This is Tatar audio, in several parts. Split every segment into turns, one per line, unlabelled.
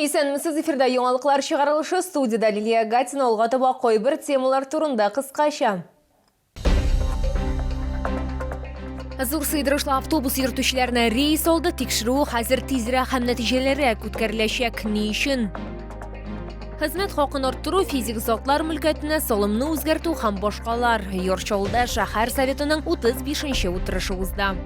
Исәнмесез, эфирда яңалыклар чыгарылышы, студиядә Лилия Гатина, алга таба кайбер темалар турында кыскача. Зур сыйдырышлы автобус йөртүчеләренә рейс алды, тикшерү хәзер тизрәк һәм нәтиҗәлерәк үткәреләчәк. Ни өчен? Хезмәт хакын арттыру, физик затлар мөлкәтенә салымны үзгәртү һәм башкалар. Йорчалда шәһәр советының 35 нче утырышы узды.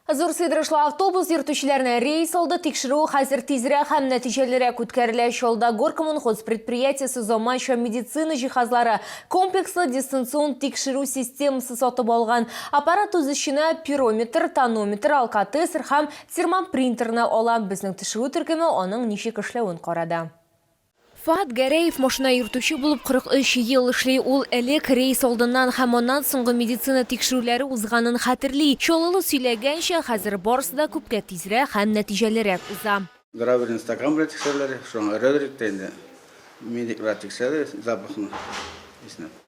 Зур сыйдырышлы автобус йөртүчеләрне рейс алды тикшерү хәзер тизрәк һәм нәтиҗәлерәк үткәрелә. Чалда Горкоммунхоз предприятиесе заманча медицина җиһазлары, комплекслы дистанцион тикшерү системасы сатып алган. Аппарат үз эченә пирометр, тонометр, алкотестер һәм термопринтерны ала. Безнең төшерү төркеме аның ничек эшләвен карады. Фоат Гәрәев машина йөртүче булып 43 ел эшли. Ул элек, рейс алдыннан һәм аннан соңгы медицина тикшерүләре узганын хәтерли. Чаллылы сөйләгәнчә, хәзер барысы да күпкә тизрәк һәм нәтиҗәлерәк уза. Гравийны стакан
белән тикшерәләр, шуңа өрәләр инде, медиклар тикшерәләр запахны, исне.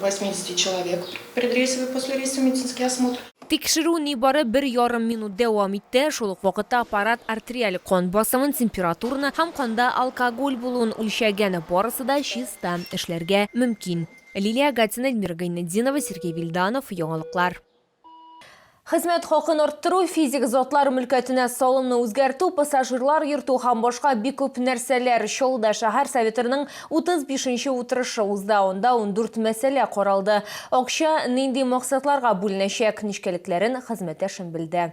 80 человек предрейсовый, послерейсовый медицинский осмотр. Тикшерү нибары
бер ярым минут дәвам итте, шул ук вакытта аппарат артериаль кан басымын, температураны һәм канда алкоголь булуын үлчәгән, барысы да чиста, эшләргә мөмкин. Лилия Гатина, Эльмира Гайнетдинова, Сергей Вильданов, Яңалыклар. Хезмәт хакын арттыру, физик затлар мөлкәтенә салымны үзгәртү, пассажирлар йөртү һәм башка бик күп нәрсәләр. Чаллыда шәһәр Советырының 35 нче утырышы узды, анда ундүрт мәсьәлә каралды. Акча нинди максатларга бүленәчәк, нечкәлекләрен хезмәттәшем белде.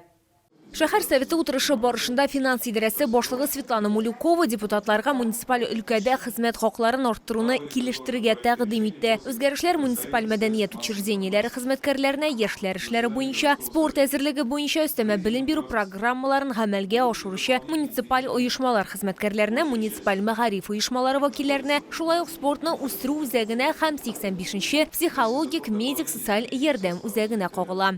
Шәһәр Советы утырышы барышында финанс идарәсе башлыгы Светлана Мулюкова депутатларга муниципаль өлкәдә хезмәт хакларын арттыруны килештерергә тәкъдим итте. Үзгәрешләр муниципаль мәдәният учреждениеләре хезмәткәрләренә яшьләр эшләре буенча, спорт әзерлеге буенча өстәмә белем бирү программаларын гамәлгә ашыручы муниципаль оешмалар хезмәткәрләренә, муниципаль мәгариф оешмалары вәкилләренә, шулай ук спортны үстерү үзәгенә һәм 85 нче психологик-медик-социаль ярдәм үзәгенә кагыла.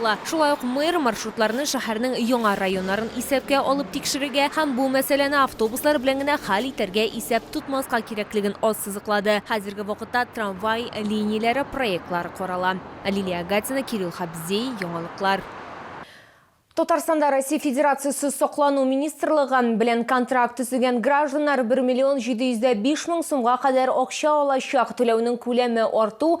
ла. Шулай ук мэр маршрутларны шәһәрнең яңа районнарын исәпкә алып тикшерергә һәм бу мәсьәләне автобуслар белән генә хәл итәргә исәп тотмаска кирәклеген ассызыклады. Хәзерге вакытта трамвай линияләре проектлары карала. Лилия Агатина, Кирилл Хабзей, Яңалыклар. Татарстанда Россия Федерациясе Саклану министрлыгы белән контракт төзегән гражданнар бер миллион җиде йөз дә биш мең сумга кадәр акча алачак, түләүнең күләме арту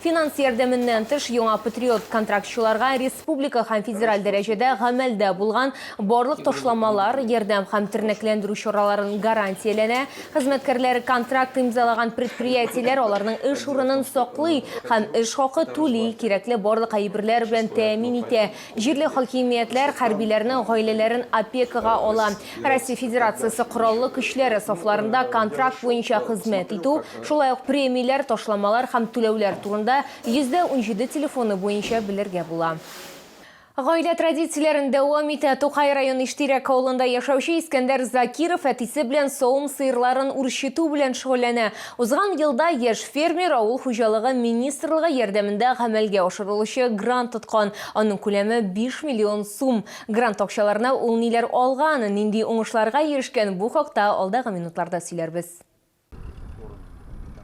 Финанс ярдәменнән тыш, яңа Патриот контрактчыларга республика һәм федераль дәрәҗәдә гамәлдә булган барлык ташламалар, ярдәм һәм тернәкләндерү чараларын гарантияләнә, хезмәткәрләре контракт имзалаган предприятиеләр аларның эш урынын саклый һәм эш хакы түли, кирәкле барлык әйберләр белән тәэмин итә, җирле хакимиятләр хәрбиләрнең гаиләләрен опекага ала, Россия Федерациясе кораллы көчләре сафларында контракт буенча хезмәт итү, шулай ук премияләр, ташламалар һәм түләүләр турында 117 телефоны буенча белергә була. Гаилә традицияләрен дәвам итә. Тукай район Иштирәк авылында яшәүче Искәндәр Закиров әтисе белән савым сыерларын үрчетү белән шөгыльләнә. Узган елда яшь фермер авыл хуҗалыгы министрлыгы ярдәмендә гамәлгә ашырылучы грант тоткан. Аның күләме 5 миллион сум. Грант акчаларына ул ниләр алган, нинди уңышларга ирешкән, бу хакта алдагы минутларда сөйләрбез.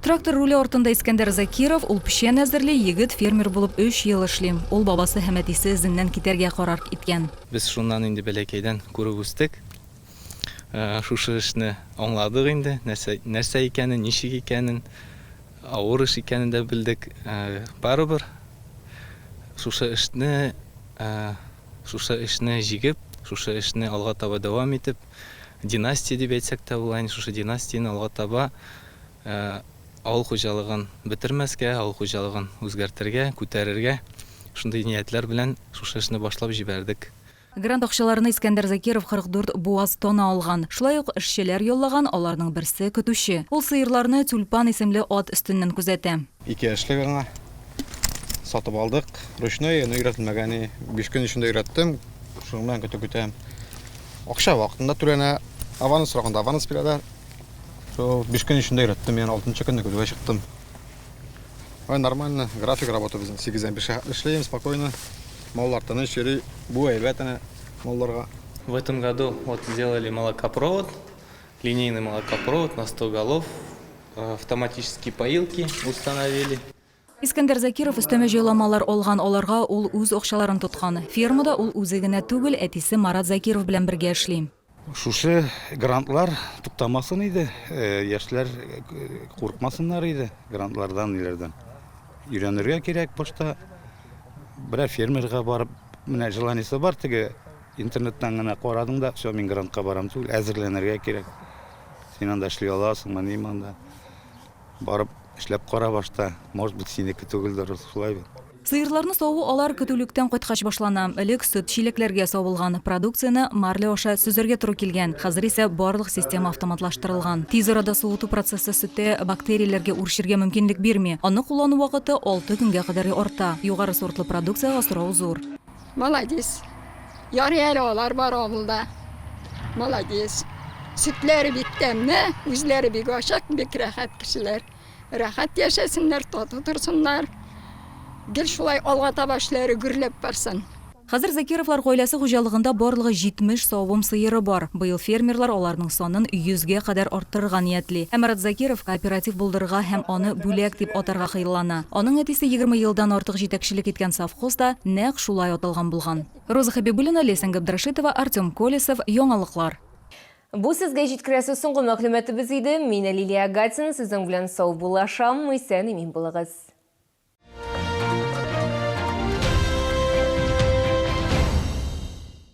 Трактор руле артында Искәндәр Закиров, ул печән әзерли, егет фермер булып өч ел эшли. Ул бабасы һәм әтисе эзеннән китәргә карар иткән. Без шуннан инде
бәләкәйдән күреп үстек. Шушы эшне аңладык инде, нәрсә, нәрсә икәнен, ничек икәнен, авыр эш икәнен дә белдек. Барыбер шушы эшне Шушы эшне җигеп, шушы эшне алга таба дәвам итеп, династия дип әйтсәк тә була инде, шушы династияне алга таба авыл хуҗалыгын бетермәскә, авыл хуҗалыгын үзгәртергә, күтәрергә, шундый ниятләр белән шушы эшне башлап җибәрдек. Грант акчаларны
Искәндәр Закиров 44 буаз тона алган. Шулай ук эшчеләр яллаган, аларның берсе, көтүче. Ул сыерларны Тюльпан исемле ат өстеннән күзәтә. Ике яшьлек аңа,
Сатып алдык. Ручной, но өйрәтелмәгән. Әни, 5 көн эчендә өйрәттем. Шуның белән көтеп көтәм. Акча вакытында түләнә. Аванс сораганда аванс бирәләр. Шул 5 көн эчендә өйрәттем. Яны 6 көнне көтүгә чыктым. Ай, нормально. График работа безнең. 8-дән 5-ка эшлим спокойно. Маллар тыныч йөри. Бу әйбәт әнә малларга. В этом году
вот сделали молокопровод. Линейный молокопровод на 100 голов, автоматические поилки установили. Искәндәр
Закиров өстәмә җайламалар алган, аларга ул үз акчаларын тоткан. Фермада ул үзе генә түгел, әтисе Марат Закиров белән бергә эшли. Шушы
грантлар туктамасын иде, яшьләр куркмасыннар иде грантлардан, ниләрдән. Өйрәнергә кирәк башта. Берәр фермерга барып, менә желаниесе бар теге Интернеттан гына карадым да, все, мин грантка барам түгел, әзерләнергә кирәк. Син анда эшли аласыңмы, ниме анда? Барып эшләп кара башта, может быть, синеке түгелдер, шулай бит. Сыерларны саву
алар көтүлектән кайткач башлана. Элек сөт чиләкләргә савылган, продукцияне марля аша сөзәргә туры килгән. Хәзер исә барлык система автоматлаштырылган. Тиз арада суыту процессы сөттә бактерияләргә үрчергә мөмкинлек бирми. Аны куллану вакыты алты көнгә кадәр арта. Югары сортлы продукциягә сорау зур. Молодец.
Ярый әле алар бар авылда. Молодец. Сөтләре бик тәмле, үзләре бик ачык, бик рәхәт кешеләр. Рәхәт яшәсеннәр, тату торсыннар. Гел шулай алга таба эшләре гөрләп барсын. Хәзер Закировлар
гаиләсе хуҗалыгында барлыгы 70 савым сыеры бар. Быел фермерлар аларның санын 100 гә кадәр арттырырга ниятли. Ә Марат Закиров кооператив булдырырга һәм аны Бүләк дип атарга хыяллана. Аның әтисе егерме елдан артык җитәкчелек иткән совхоз да нәкъ шулай аталган булган. Роза Хәбибуллина, Ләйсән Габдрәшитова, Артем Колесов, Яңалыклар. Бу
сезгә җиткерәсе соңгы мәгълүматыбыз иде. Мин Лилия Агатина сезнең белән саубуллашам. Исән имин булыгыз.